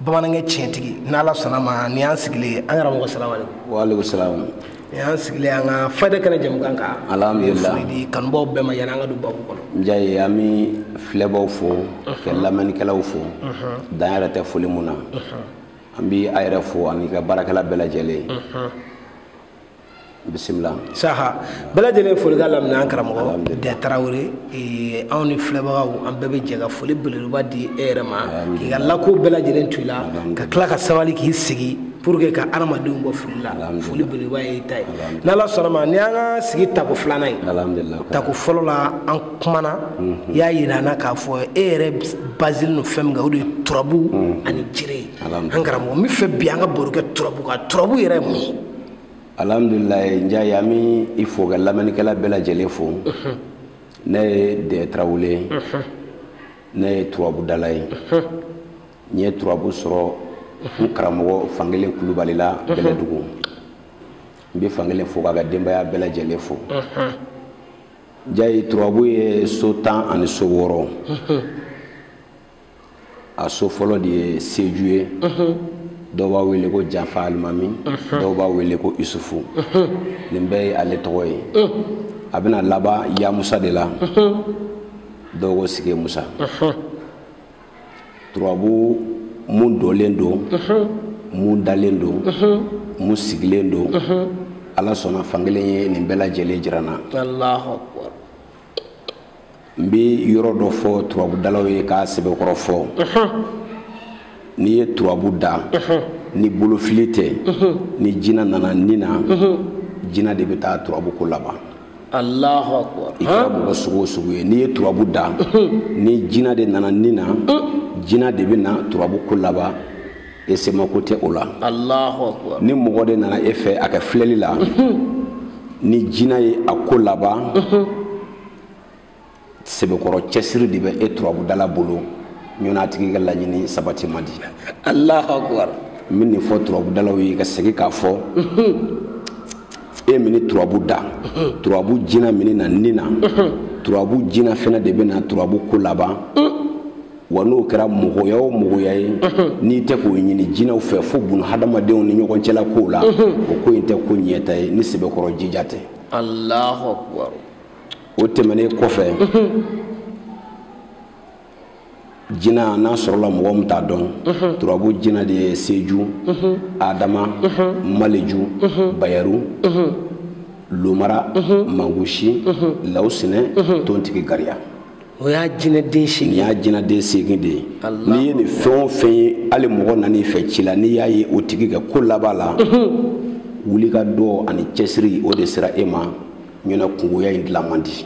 bamanankɛ tiɲɛtigi n'ala sɔnna ma ni y'an sigilen ye an karamɔgɔ salamu alekum walekum salamu ni y'an sigilen an ka fayida kɛnɛ jɛmukan kan alhamdulila foli di kanubaaw bɛɛ ma yanni an ka don babu kɔnɔ njayi an bɛ filɛbaw fo ka lamɛnnikɛlaw fo dan yɛrɛ tɛ foli mun na an bɛ a yɛrɛ fo ani i ka baarakɛla bɛɛ lajɛlen bisimila saha bɛɛ lajɛlen folikan laminɛ an karamɔgɔ dɛ tarawele eh, anw ni filɛbagaw an bɛɛ bɛ jɛ ka foli belebeleba di e yɛrɛ ma k'i ka lako bɛɛ lajɛlen to i la ka tila ka sabali k'i sigi pour que ka adamadenw bɔ fili la foli belebeleba y'i ta ye n'ala sɔnna ma ni an ka sigi tako filanan ye tako fɔlɔ la an kumana mhm. y'a yira an na k'a fɔ e yɛrɛ basilen don fɛn min kan o de ye turabu mhm. ani jiri ye an karamɔgɔ n bɛ fɛ bi an ka baro kɛ turabu kan turabu yɛrɛ ye mun ye alhamdulilayi njayi an bɛ i fo ka lamɛnnikɛla bɛɛ lajɛlen fo ne ye dɛɛ tarawele ye ne ye turabudala ye n ye turabu sɔrɔ n karamɔgɔ fankelen kulubali la bɛlɛdugu n bɛ fankelen fo k'a ka denbaya bɛɛ lajɛlen fo njayi turabu ye so tan ani so wɔɔrɔ a so fɔlɔ de ye seju ye dɔw b'a wele ko janfa alimami dɔw b'a wele ko isufu nin bɛɛ ye ale tɔgɔ ye a bɛna laban yamusa de la dɔw ko sigi musa turabu mun dɔlen don mun dalen don mun sigilen don ala sɔnna fankelen ye nin bɛɛ lajɛlen jira n na n bɛ yɔrɔ dɔ fɔ turabudalaw ye k'a sɛbɛkɔrɔ fɔ n'i ye turabu da ni bolofili tɛ ni jina nana ni na jina de bɛ taa turabu ko laban alahu akubar i kɛra mɔgɔ sugu o sugu ye n'i ye turabu da ni jina de nana ni na jina de bɛ na turabu ko laban e semako tɛ o la alahu akubar ni mɔgɔ de nana e fɛ a ka filɛli la ni jina ye a ko laban sɛbɛkɔrɔ cɛsiri de bɛ e turabudala bolo ɲɔn'a a tigi ka laɲini sabati man di alahu akubar n bɛ nin fɔ turabudalaw ye ka segin k'a fɔ e mini turabu da turabu jina mini na ni na turabu jina fana de bɛ na turabu ko laban wa n'o kɛra mɔgɔya o mɔgɔya ye n'i tɛ k'o ɲini jinaw fɛ fo bunu hadamadenw ni ɲɔgɔn cɛla kow la o ko in tɛ ko ɲɛta ye ni sɛbɛkɔrɔ jija tɛ alahu akubar o tɛmɛnen kɔfɛ jina n'a sɔrɔla mɔgɔ min t'a dɔn turabu jinaden ye seju adama maleju bayaru lomara mangusi lawusinɛ tontigi gariya o y'a jinaden seegin y'a jinaden seegin de ye n'i ye nin fɛn o fɛn ye hali mɔgɔ nan'i fɛ ci la n'i y'a ye o tigi ka ko laban la wuli ka dɔ ani cɛsiri o de sera e ma ɲɛna kungoya in dilan man di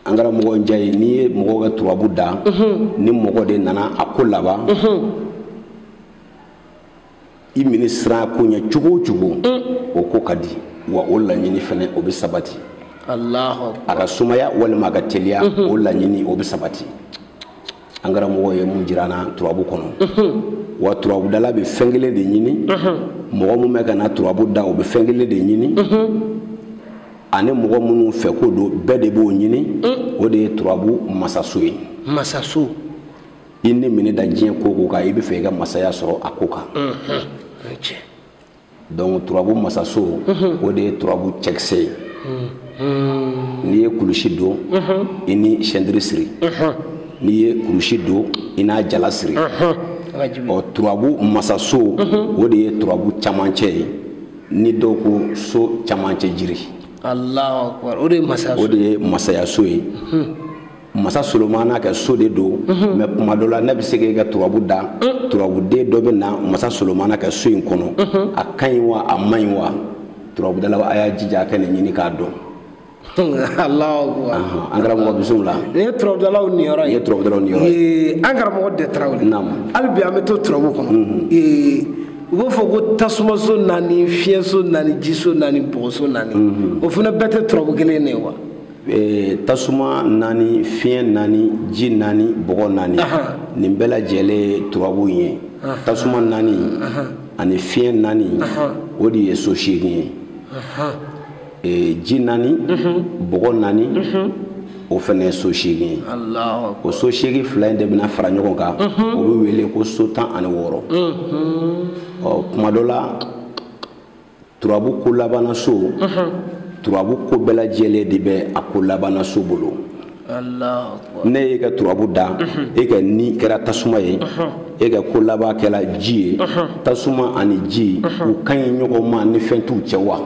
an karamɔgɔ njayi n'i ye mɔgɔ ka turabu da mhm. ni mɔgɔden nana a ko laban mhm. i mana siran ko ɲɛ cogo o cogo mm. o ko ka di wa o laɲini fana o bɛ sabati a ka sumaya walima a ka teliya mhm. o laɲini o bɛ sabati an karamɔgɔ ye min jira an na turabu kɔnɔ wa turabudala bɛ fɛn kelen de ɲini mɔgɔ min bɛ ka na turabu da o bɛ fɛn kelen de ɲini ani mɔgɔ minnu fɛ ko don bɛɛ de b'o ɲini o de ye turabu masaso ye masaso i ni mana da diɲɛ ko o ko kan i bɛ fɛ i ka masaya sɔrɔ a ko kan donc turabu masaso o de ye turabu cɛkisɛ ye n'i ye kulusi don i n'i sɛntiri siri n'i ye kulusi don i n'a jala siri ɔ turabu masaso o de ye turabu camancɛ ye ni dɔw ko so camancɛ jiri o de ye masayaso ye masa solomana ka so de don mais kuma dɔ la ne bɛ se k'e ka turabu da turabuden dɔ bɛ na masa solomana ka so in kɔnɔ a ka ɲi wa a man ɲi wa turabudala a y'a jija a ka nin ɲini k'a dɔn an karamɔgɔ bisimila la nin ye turabudalaw niyɔrɔ ye nin ye turabudalaw niyɔrɔ ye an karamɔgɔ dɛ tarawele naamu hali bi an bɛ to turabu kɔnɔ u b'a fɔ ko tasumaso naani fiɲɛso naani jiso naani bɔgɔso naani o fana bɛɛ tɛ turabu kelen de ye wa Eh, tasuma naani fiɲɛ naani ji naani bɔgɔ naani nin bɛɛ lajɛlen turabu ye tasuma naani ani fiɲɛ naani o de ye so seegin ye eh, ji naani mhm. bɔgɔ naani mhm. o fana ye so seegin ye o so seegin fila in de bɛna fara ɲɔgɔn kan mhm. o bɛ wele ko so tan ani wɔɔrɔ ɔ kuma dɔ la turabu ko labannaso turabu ko bɛɛ lajɛlen de bɛ a ko labannaso bolo ne y'e ka turabu da e ka ni kɛra tasuma ye e ka ko laban kɛra ji ye tasuma ani ji u ka ɲi ɲɔgɔn ma ni fɛn t'u cɛ wa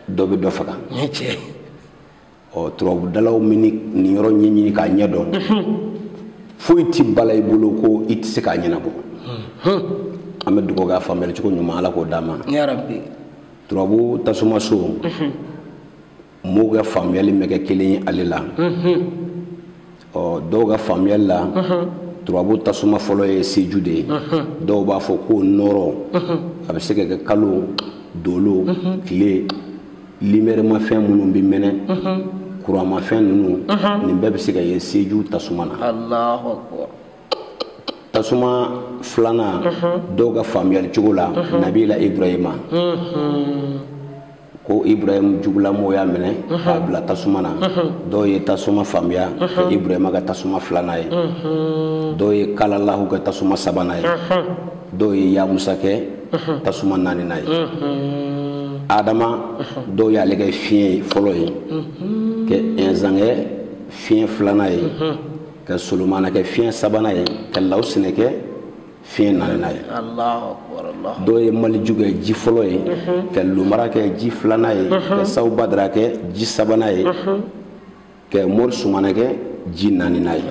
dɔ bɛ dɔ faga ɔ turabudalaw mana nin yɔrɔ ɲɛɲini k'a ɲɛ dɔn foyi tɛ bala i bolo ko i tɛ se k'a ɲɛnabɔ an bɛ dugawu kɛ a faamuyali cogo ɲuman ala k'o d'an ma turabu tasuma so mɔgɔw ka faamuyali ma kɛ kelen ye ale la ɔ dɔw ka faamuyali la turabu tasuma fɔlɔ ye seju de ye dɔw b'a fɔ ko nɔrɔ a bɛ se ka kɛ kalo dolo tile limɛrɛmafɛn minnu bɛ mɛnɛ kuranmafɛn ninnu nin bɛɛ bɛ se ka ye seju tasuma na tasuma filanan dɔw ka faamuyali cogo la nabila ibrahima ko ibrahim jugulamɔgɔw y'a minɛ k'a bila tasuma na dɔw ye tasuma faamuya ka ibrahima kɛ tasuma filanan ye dɔw ye kalalahu kɛ tasuma sabanan ye dɔw ye yamusa kɛ tasuma naaninan ye adama dɔw y'ale kɛ fiɲɛ ye fɔlɔ ye ka ɛnzan kɛ fiɲɛ filanan ye ka solomana kɛ fiɲɛ sabanan ye ka lawusinɛ kɛ fiɲɛ naaninan ye dɔw ye maliju kɛ ji fɔlɔ ye mhm. ka lumara kɛ ji filanan ye mhm. ka sawu badara kɛ ji sabanan ye mhm. ka mori sumana kɛ ji naaninan ye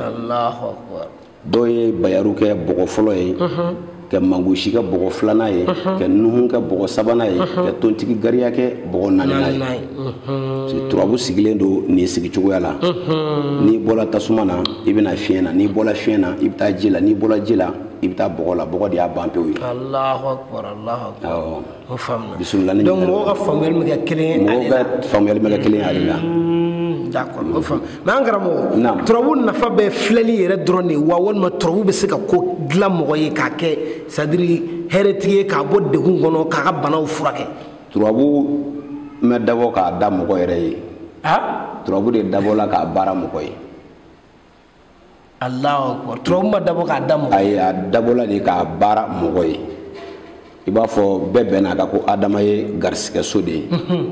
dɔw ye bayaru kɛ bɔgɔ fɔlɔ ye ka mangosi kɛ bɔgɔ filanan ye ka nuhun kɛ bɔgɔ sabanan ye ka tontigi gariya kɛ bɔgɔ naaninan ye turabu sigilen don nin sigi cogoya la n'i bɔra tasuma na i bɛ na fiɲɛ na n'i bɔra fiɲɛ na i bɛ taa ji la n'i bɔra ji la i bɛ taa bɔgɔ la bɔgɔ de y'a ban pewu ye bisimila ni mɔgɔw ka faamuyali ma kɛ kelen ye mɔgɔw ka faamuyali ma kɛ kelen ye ale la hmm, d'accord o faamu mais an karamɔgɔ turabu nafa bɛ filɛli yɛrɛ dɔrɔn de wa walima turabu bɛ se ka ko dilan mɔgɔ ye k'a kɛ c'est à dire hɛrɛtigi ye k'a bɔ degun kɔnɔ k'a ka banaw furakɛ turabu ma dabɔ k'a da mɔgɔ yɛrɛ ye turabu de dabɔla k'a baara mɔgɔ ye alahu turabu ma dabɔ k'a da mɔgɔ ayi a dabɔla de k'a baara mɔgɔ ye i b'a fɔ bɛɛ bɛnna a kan ko adama ye garisigɛso de ye mhm.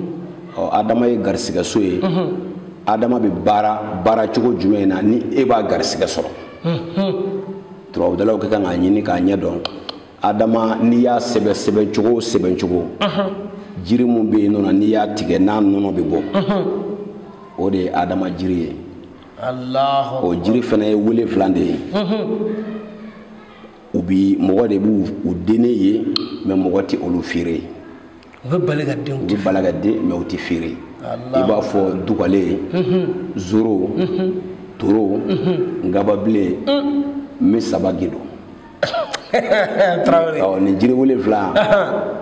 ɔ adama ye garisigɛso ye mhm. adama bɛ baara baara cogo jumɛn na ni e b'a garisigɛ sɔrɔ mhm. turabudalaw ka kan k'a ɲini k'a ɲɛ dɔn adama n'i y'a sɛbɛn sɛbɛncogo o sɛbɛncogo jiri min bɛ yen nɔ n'i y'a tigɛ n'a nɔnɔ bɛ bɔ o de ye adama jiri ye o jiri fana ye wolonfila de ye u bi mɔgɔ de b'u dennen ye mais mɔgɔ tɛ olu feere u bɛ bali ka den u bɛ bali ka den mais u tɛ feere i b'a fɔ dugalen zoro toro ngababilen misaba gindo tarawele ɔ nin jiri wolonfila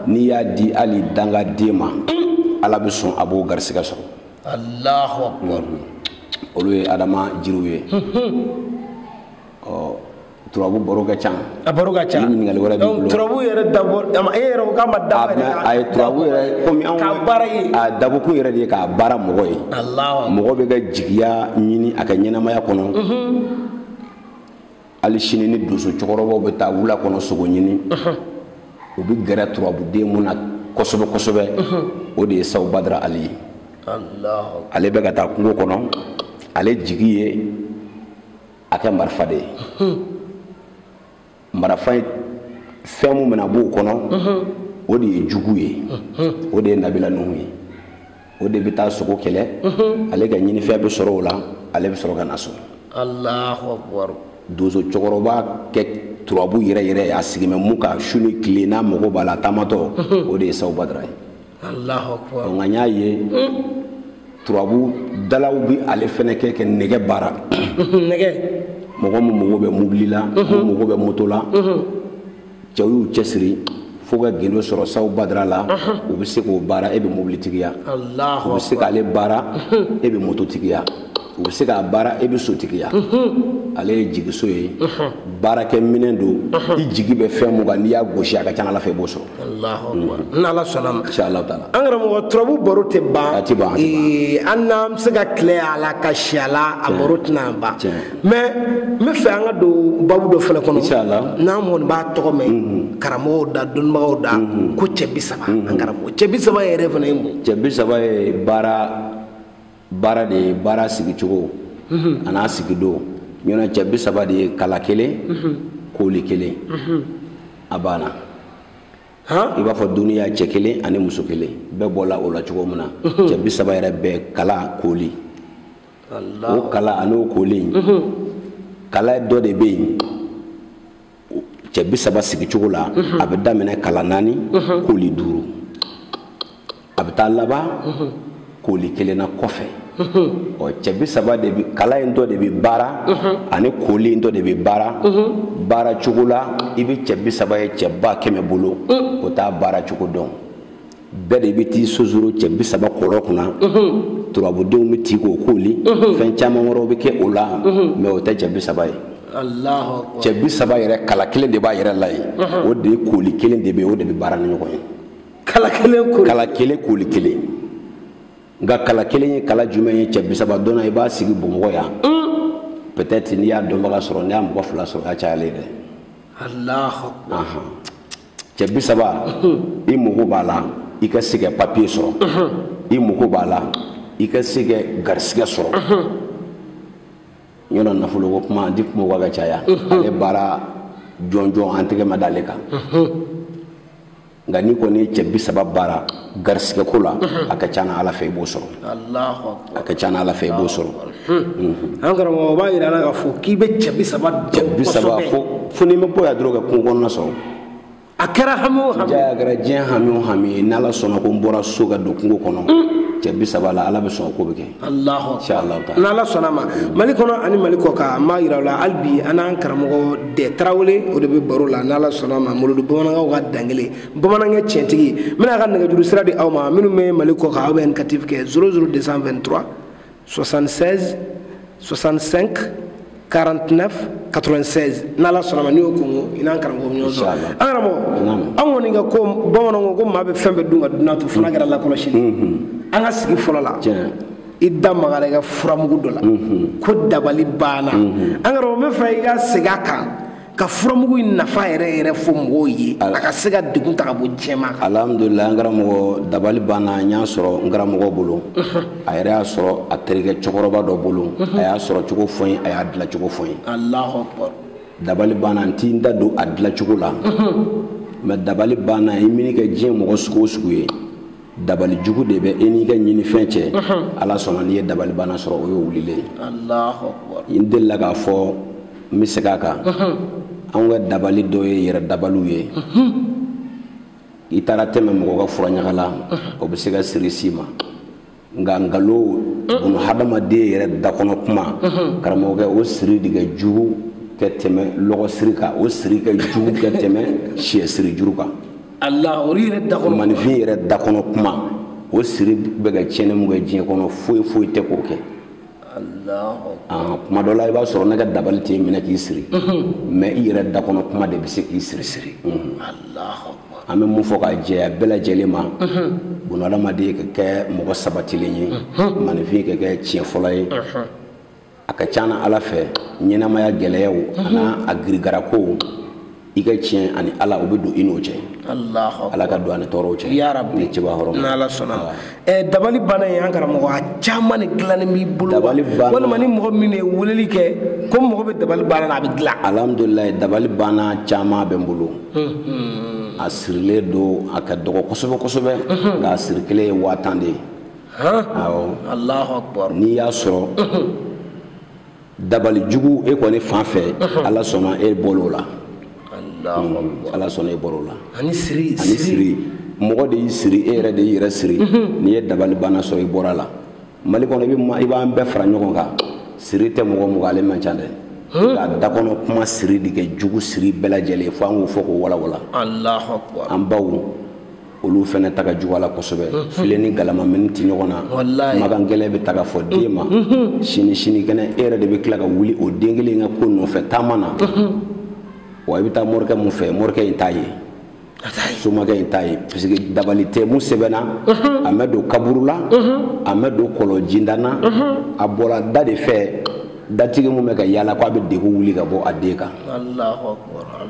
n'i y'a di hali dangaden ma ala bɛ sɔn a b'o garisɛgɛ sɔrɔ alahu akubar olu ye adama jiriw ye ɔ turabu baro ka ca a baro ka ca ni ɲininkali wɛrɛ b'i bolo turabu yɛrɛ dabɔ e yɛrɛ ko k'a ma dabɔ yɛrɛ k'a a ye turabu yɛrɛ komi anw ka baara ye a dabɔkun yɛrɛ de ye k'a baara mɔgɔ ye alahu mɔgɔ bɛ ka jigiya ɲini a ka ɲɛnamaya kɔnɔ hali sini ni donso cɛkɔrɔbaw bɛ taa wula kɔnɔ sogo ɲini u bɛ gɛrɛ turabuden mun na kosɛbɛ kosɛbɛ o de ye sawu badara ali ye ale bɛ ka taa kungo kɔnɔ ale jigi ye a kɛ marifa de ye marifa fɛn min bɛna b'o kɔnɔ o de ye jugu ye o de ye nabila nuhu ye o de bɛ taa sogo kɛlɛ ale ka ɲinifɛn bɛ sɔrɔ o la ale bɛ sɔrɔ ka na so alahu akubar donso cɛkɔrɔba kɛ turabu yɛrɛ yɛrɛ ye a sigi bɛ mun kan su ni tile n'a mago b'a la taamatɔ o de ye saw badara ye nka n y'a ye turabu dalaw bɛ ale fɛnɛ kɛ kɛ nɛgɛ baara nɛgɛ mɔgɔ min mago bɛ mobili la min mago bɛ moto la cɛw y'u cɛsiri fo ka gindo sɔrɔ saw badara la u bɛ se k'o baara e bɛ mobilitigiya u bɛ se k'ale baara e bɛ mototigiya u bɛ se k'a baara e bɛ sotigiya ale ye jigiso ye baarakɛminɛn don i jigi bɛ fɛn mun kan n'i y'a gosi a ka ca ala fɛ i b'o sɔrɔ n'ala sɔnna ma ala taala an karamɔgɔ turabu baro tɛ ban a tɛ ban an n'an bɛ se ka tile a la ka si a la a baro tɛna ban mɛ n bɛ fɛ an ka don babu dɔ fana kɔnɔ n'an kɔni b'a tɔgɔ mɛn mhm. karamɔgɔw da dɔnnibagaw da mhm. ko cɛ bi saba an mhm. karamɔgɔ cɛ bi saba yɛrɛ fana ye mun cɛ bi saba ye baara baara de ye baara sigicogo an'a sigidon ɲɔnɛ cɛ bi saba de ye kala kelen kooli kelen a banna i b'a fɔ duniya cɛ kelen ani muso kelen bɛɛ bɔla o la cogo min na cɛ bi saba yɛrɛ bɛɛ kala kooli o kala an'o koli kala dɔ de bɛ yen cɛ bi saba sigicogo la a bɛ daminɛ kala naani koli duuru a bɛ taa laban koli kelen na kɔfɛ ɔ cɛ bi saba de bi kala in dɔ de bi baara ani koli in dɔ de bi baara baara cogo la i bɛ cɛ bi saba ye cɛ ba kɛmɛ bolo o t'a baara cogo dɔn bɛɛ de bɛ t'i sonsoro cɛ bi saba kɔrɔ kunna turabudenw bɛ t'i k'o kooli fɛn caman wɛrɛw bɛ kɛ o la mɛ o tɛ cɛ bi saba ye cɛ bi saba yɛrɛ kala kelen de b'a yɛrɛ la ye o de ye kooli kelen de bɛ o de bɛ baara ni ɲɔgɔn ye kala kelen kooli kelen nka kala kelen ye kala jumɛn ye cɛ bi saba dɔnna i b'a sigi bamakɔ yan peut-être n'i y'a dɔnbaga sɔrɔ n'i y'a mɔgɔ fila sɔrɔ o y'a cayalen ye dɛ cɛ bi saba i mago b'a la i ka se ka papiye sɔrɔ i mago b'a la i ka se ka garisigɛ sɔrɔ yɔrɔ nafoloko kuma an ti kuma o kan ka caya ale baara jɔnjɔn an tɛgɛ ma d'ale kan nka n'i kɔni ye cɛ bi saba baara garisigɛko la a ka ca na ala fɛ i b'o sɔrɔ a ka ca ala fɛ i b'o sɔrɔ an karamɔgɔ o b'a yira la k'a fɔ k'i bɛ cɛ bi saba dɔn kosɛbɛ fo n'i ma bɔ yan dɔrɔn ka kungo kɔnɔna sɔrɔ a kɛra hami o hami a kɛra diɲɛ hami o hami ye n'ala sɔnna ko n bɔra so ka don kungo kɔnɔ cɛ bi saba la ala bɛ sɔn ko bɛ kɛ alahu akbar inshallah taala n'ala sɔnna ma mali kɔnɔ ani mali kɔ kan an b'a yira aw la hali bi an n'an karamɔgɔ dɛ tarawele o de bɛ baro la n'ala sɔnna ma molodo bamanankaw ka dankelen bamanankɛ tiɲɛtigi n bɛna a ka nɛgɛjuru sira di aw ma minnu bɛ mali kɔ kan aw bɛ indicatif kɛ 00 223 76 65 49 96 n'ala sɔnna ma n'i y'o kungo i n'an karamɔgɔ bɛ ɲɔgɔn sɔrɔ an karamɔgɔ an kɔni ka ko bamananw ko ko maa bɛ fɛn bɛɛ dun ka dunan to fana kɛra lakɔlɔsili an ka sigi fɔlɔ la i da magara i ka furamugu dɔ la ko dabali banna an karamɔgɔ n bɛ fɛ i ka segin a kan ka furamugu in nafa yɛrɛ yɛrɛ fɔ mɔgɔw ye a ka se ka degun ta ka bɔ jama kan alhamdulila an karamɔgɔ dabali banna n y'a sɔrɔ n karamɔgɔ bolo a yɛrɛ y'a sɔrɔ a terikɛ cɛkɔrɔba dɔ bolo a y'a sɔrɔ cogo fɔ n ye a y'a dila cogo fɔ n ye alahu akbar dabali banna n ti n da don a dila cogo la mɛ dabali banna i mana kɛ diɲɛ mɔgɔ sugu o sugu ye dabali jugu de bɛ e n'i ka ɲinifɛn cɛ ala sɔnna n'i ye dabali banna sɔrɔ o ye wulilen ye n delila k'a fɔ n bɛ segin a kan anw ka dabali dɔ ye yɛrɛ dabaliw ye i taara tɛmɛ mɔgɔ ka furaɲaga la o bɛ se ka siri s'i ma nka nkalon buna hadamaden yɛrɛ dakɔnɔ kuma karamɔgɔkɛ o siri de ka jugu ka tɛmɛ lɔgɔsiri kan o siri ka jugu ka tɛmɛ siyɛsiri juru kan Allah olu yɛrɛ da kɔnɔ maaninfin yɛrɛ da kɔnɔ kuma o siri bɛ ka tiɲɛni mun kɛ diɲɛ kɔnɔ foyi foyi tɛ k'o kɛ ah, kuma dɔ la i b'a sɔrɔ ne ka dabali t'i minɛ k'i siri mɛ i yɛrɛ da kɔnɔ kuma de bɛ se k'i siri siri an bɛ mun fɔ k'a jɛya bɛɛ lajɛlen ma bunahadamaden ka kɛ mɔgɔ sabatilen ye maaninfin ka kɛ tiɲɛfɔla ye a ka ca na ala fɛ ɲɛnamaya gɛlɛyaw mhm. an'a girigarakow i ka tiɲɛ ani ala o bɛ don i n'o cɛ ala ka don an ni tɔɔrɔw cɛ ni cɛba hɔrɔn n'ala sɔnna eh, dabali banna in an karamɔgɔ a caman de dilannen b'i bolo dabali banna walima ni mɔgɔ min ye weleli kɛ ko mago bɛ dabali banna na a bɛ dilan alhamdulilayi dabali banna caman bɛ n bolo a sirilen don a ka dɔgɔ kosɛbɛ kosɛbɛ nka a siri kelen ye waa tan de ye n'i y'a sɔrɔ dabali jugu e kɔni fan fɛ ala sɔnna e bɔr'o la ala sɔnna e bɔr'o la ani siri mɔgɔ de y'i siri e yɛrɛ de y'i yɛrɛ siri n'i ye dabali banna sɔrɔ i bɔr'a la mali kɔnɔ i b'an bɛɛ fara ɲɔgɔn kan siri tɛ mɔgɔ mun kan ale man ca dɛ nka dakɔnɔ kuma siri de ka jugu siri bɛɛ lajɛlen fo an k'o fɔ k'o walawala an baw olu fana ta ka jugu a la kosɛbɛ mm-hmm. filen ni galama mana ti ɲɔgɔn na makan gɛlɛn bɛ ta ka fɔ den ma mm-hmm. Mm-hmm. sini sini kɛnɛ e yɛrɛ de bɛ tila ka wuli o den kelen ka ko nɔfɛ taama na wa i bɛ taa morikɛ mun fɛ morikɛ in t'a ye somakɛ in t'a ye parce que dabali tɛ mun sɛbɛnna a mɛ don kaburu la a mɛ don kɔlɔn jinda na a bɔra da de fɛ datigi mun bɛ ka yaala ko a bɛ degun wuli ka bɔ a den kan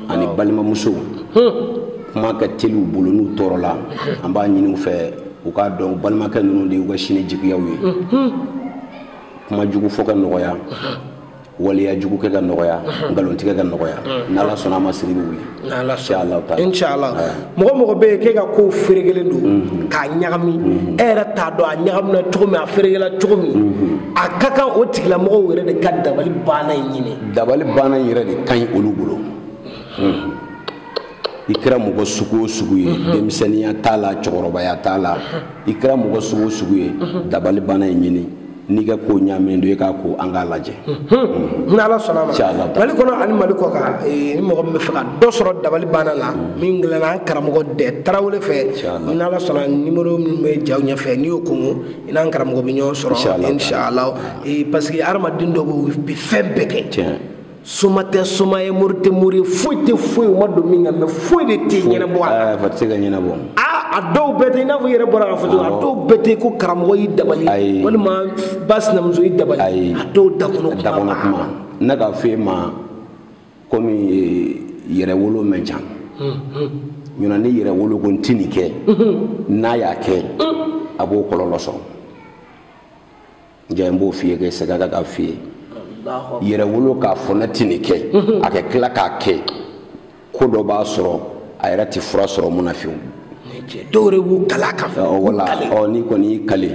ani balimamusow kuma ka teli u bolo n'u tɔɔrɔla an b'a ɲini u fɛ u k'a dɔn u balimakɛ ninnu de y'u ka sini jigiyaw ye kuma jugu fɔ ka nɔgɔya waleya jugu kɛ ka nɔgɔya nkalontigɛ ka nɔgɔya n'ala sɔnna a ma siri bɛ wuli inshallah mɔgɔ o mɔgɔ bɛ yen k'e ka kow ferekelen don mhm. k'a ɲagami mhm. e yɛrɛ t'a dɔn a ɲagamina cogo min a ferekela cogo min mhm. a ka kan o tigilamɔgɔw yɛrɛ de ka dabali banna in ɲini dabali banna in yɛrɛ de ka ɲi olu bolo hmm. i kɛra mɔgɔ sugu o sugu ye mhm. denmisɛnninya t'a la cɛkɔrɔbaya t'a la i kɛra mɔgɔ sugu o sugu ye mhm. dabali banna in ɲini n'i ka ko ɲaaminen don i k'a ko an k'a lajɛ mhm. ni ala sɔnna a ma mali kɔnɔ ani mali kɔ kan eh, ni mɔgɔ min bɛ fɛ ka dɔ sɔrɔ dabali banna la min dilanna an karamɔgɔ dɛ tarawele fɛ ni ala sɔnna nimoro min bɛ jaw ɲɛfɛ n'i y'o kɔnkɔn i n'an karamɔgɔ bɛ ɲɔgɔn sɔrɔ inshallah ee parce que hadamaden dɔ bɛ bi fɛn bɛɛ kɛ tiɲɛ soma tɛ soma ye mori tɛ mori ye foyi tɛ foyi o ma don min kan mais foyi de tɛ ɲɛnabɔ a la a tɛ se ka ɲɛnabɔ a dɔw bɛɛ tɛ i n'a fɔ i yɛrɛ bɔra k'a fɔ cogo a dɔw bɛɛ tɛ ko karamɔgɔ y'i dabali walima ba sinamuso y'i dabali a dɔw dakɔnɔ kuma ne k'a fɔ e ma komi yɛrɛwolo man ca ɲɔna ni yɛrɛwolo ko n tɛ nin kɛ n'a y'a kɛ a b'o kɔlɔlɔ sɔrɔ n b'o f'i ye ka segin k'a f'i ye yɛrɛwolo k'a fɔ ne tɛ nin kɛ a ka tila k'a kɛ ko dɔ b'a sɔrɔ a yɛrɛ tɛ fura sɔrɔ mun na vieux dɔw yɛrɛ b'u kale k'a fɔ walayi ɔ n'i kɔni y'i kale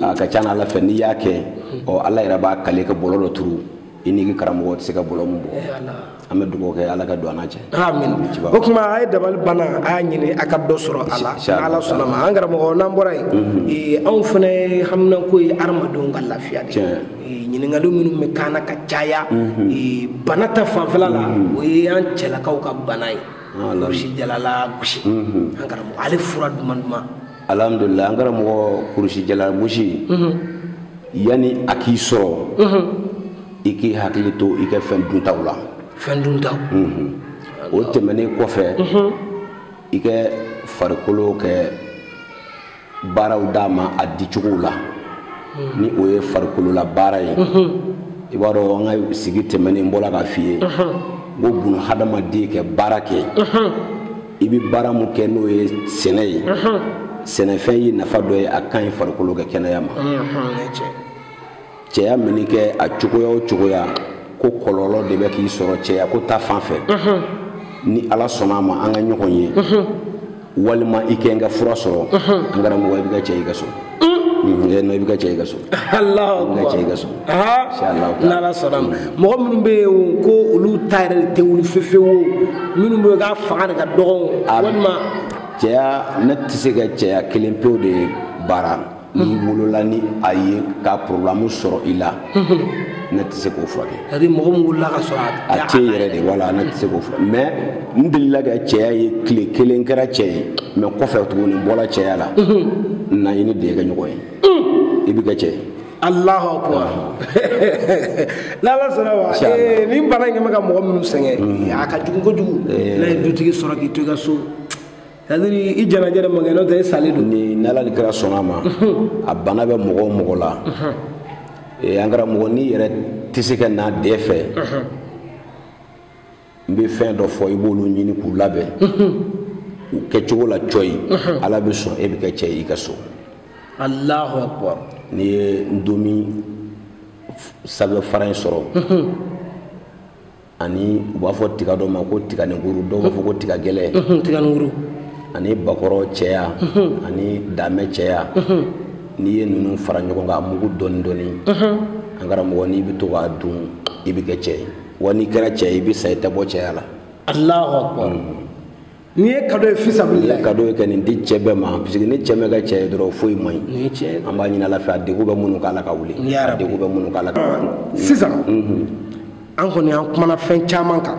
a ka ca ala fɛ n'i y'a kɛ ɔ ala yɛrɛ b'a kale ka bɔlɔ dɔ turu i n'i karamɔgɔ tɛ se ka bɔlɔ min bɔ an bɛ dugawu kɛ ala ka don an cɛ amin o tuma a ye dabali banna a y'a ɲini a ka dɔ sɔrɔ a la n'ala sɔnna ma an karamɔgɔ n'an bɔra yen mhm. anw fana haminako ye adamadenw ka lafiya de ɲininkali minnu bɛ ka na ka caya mhm. bana ta fanfɛla la mhm. o ye an cɛlakaw ka bana ye kurusijala lagosi an karamɔgɔ ale fura duman duman alhamdulila an karamɔgɔ kurusijala gosi mhm. yani a k'i sɔrɔ mhm. i k'i hakili to i ka fɛn duntaw la fɛn duntaw mhm. o tɛmɛnen kɔfɛ i ka farikolo ka baaraw d'a ma a dicogow la ni o ye farikolola baara ye i b'a dɔn an ka sigi tɛmɛnen n bɔra k'a f'i ye n ko bunahadamaden ka baara kɛ i bɛ baara min kɛ n'o ye sɛnɛ ye sɛnɛfɛn ye nafa dɔ ye a ka ɲi farikolo ka kɛnɛya ma cɛya mini kɛ a cogoya o cogoya ko kɔlɔlɔ de bɛ k'i sɔrɔ cɛya ko ta fan fɛ ni ala sɔnna a ma an ka ɲɔgɔn ye walima i ka n ka fura sɔrɔ an karamɔgɔ i bɛ kɛ cɛ ye i ka so i bɛ kɛ cɛ ye i ka so alahu i bɛ kɛ cɛ ye i ka so n'ala sɔnna ma mɔgɔ minnu bɛ yen ko olu ta yɛrɛ tɛ wuli fefewu minnu bɛ yen k'a fanga de ka dɔgɔn walima cɛya ne tɛ se ka cɛya kelen pewu de baara n'i wolola ni a ye ka problème sɔrɔ i la ne tɛ se k'o furakɛ c'est à dire mɔgɔ min wolola ka sɔrɔ a tɛ yɛrɛ de wala ne tɛ se k'o furakɛ mais n'i delila ka cɛya ye tile kelen kɛra cɛ ye mais kɔfɛ tuguni i bɔra cɛya la na i ni ne ka ɲɔgɔn ye i bɛ kɛ cɛ ye alahu akubar n'ala sɔnna ma eh, nin bana in bɛ ka mɔgɔ minnu sɛgɛn a ka jugu kojugu n'a ye dutigi sɔrɔ k'i to i ka so c'est à dire i janaja de ma kɛ n'o tɛ i salen don ni n'ala ni kira sɔnna a ma a bana bɛ mɔgɔ o mɔgɔ la an karamɔgɔ n'i yɛrɛ tɛ se ka na n dɛ fɛ n bɛ fɛn dɔ fɔ i b'olu ɲini k'u labɛn u kɛcogo la cɔyi ala bɛ sɔn e bɛ kɛ cɛ ye i ka so alahu akbar n'i ye ndomi sanfɛ fara in sɔrɔ ani u b'a fɔ tiga dɔ ma ko tiganikuru dɔw b'a fɔ ko tiga gɛlɛ tiganikuru ani bakɔrɔ cɛya ani damɛ cɛya n'i ye ninnu fara ɲɔgɔn kan a mugu dɔɔni dɔɔni an karamɔgɔ n'i bɛ to k'a dun i bɛ kɛ cɛ ye wa n'i kɛra cɛ ye i bɛ sa i tɛ bɔ cɛya la alahu akubar n'i ye kado ye fisabilila ye kado ye kɛ nin di cɛ bɛɛ ma parce que ni cɛ ma kɛ cɛ ye dɔrɔn foyi man ɲi an b'a ɲini ala fɛ a degun bɛ minnu kan ala k'a wuli a degun bɛ minnu kan ala k'a wuli sisan an kɔni an kumana fɛn caman kan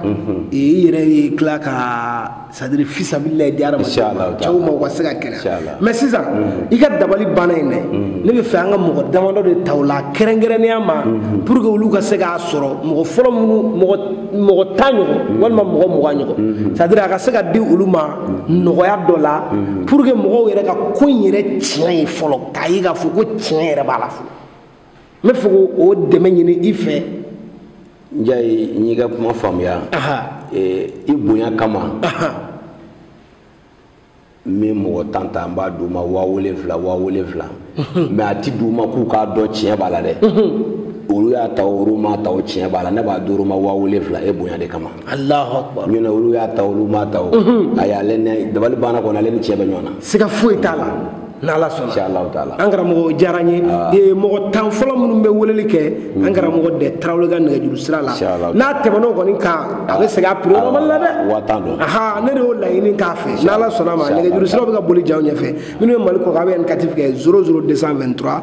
i yɛrɛ y'i tila ka c'est-à-dire fisabilila ye di adamaden ma cɛw ma u ka se ka kɛnɛya mais sisan i ka dabali banna in dɛ ne bɛ fɛ an ka mɔgɔ damadɔ de ta o la kɛrɛnkɛrɛnnenya ma pour que olu ka se k'a sɔrɔ mɔgɔ fɔlɔ minnu mɔgɔ mɔgɔ tan ɲɔgɔn mm-hmm. walima mɔgɔ mugan ɲɔgɔn mm-hmm. c'est-à-dire a ka se ka di olu ma mm-hmm. nɔgɔya dɔ la pour que mɔgɔw yɛrɛ ka ko in yɛrɛ tiɲɛ ye fɔlɔ k'a ye k'a fɔ ko tiɲɛ yɛrɛ b'a la fɔlɔ n bɛ fɛ k'o dɛmɛ ɲini i fɛ njayi n y'i ka kuma faamuya i bonya kama n bɛ mɔgɔ tan ta n b'a d'u ma waa wolonfila waa wolonfila mais a ti d'u ma k'u k'a dɔn tiɲɛ b'a la dɛ olu y'a ta olu m'a ta o tiɲɛ b'a la ne b'a d'olu ma waa wolonfila e bonya de kama nɔntɛ olu y'a ta olu m'a ta o ayi ale ne dabali banna kɔni ale ni tiɲɛ bɛ ɲɔgɔn na siga foyi t'a la n'ala sɔnna inshallah taala an karamɔgɔ diyara n ye ah. mɔgɔ tan fɔlɔ minnu bɛ weleli kɛ an mm. karamɔgɔ dɛ tarawele ka nɛgɛjuru sira la n'a tɛmɛn'o kɔni kan a bɛ segin a prix normal la dɛ waa tan don aha ne de y'o laɲini k'a fɛ n'ala sɔnn'a ma nɛgɛjuru siraw bɛ ka boli jaw ɲɛfɛ minnu bɛ mali kɔkan a bɛ indicatif kɛ 00223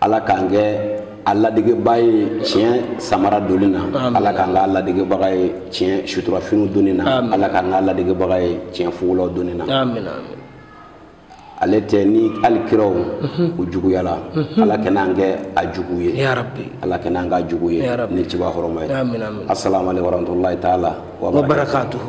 ala k'an kɛ a ladegebaa ye tiɲɛ samara donni na ala k'an k'a ladegebaga ye tiɲɛ suturafiniw donni na ala k'an k'a ladegebaga ye tiɲɛ fugulaw donni na ale tɛ ni hali kiraw mhm. u juguyala mhm. ala kana an kɛ a jugu ye ala kana an k'a jugu ye ni ciba hɔrɔma ye assalamu alaikum warahmatullahi taala wa barakatuhu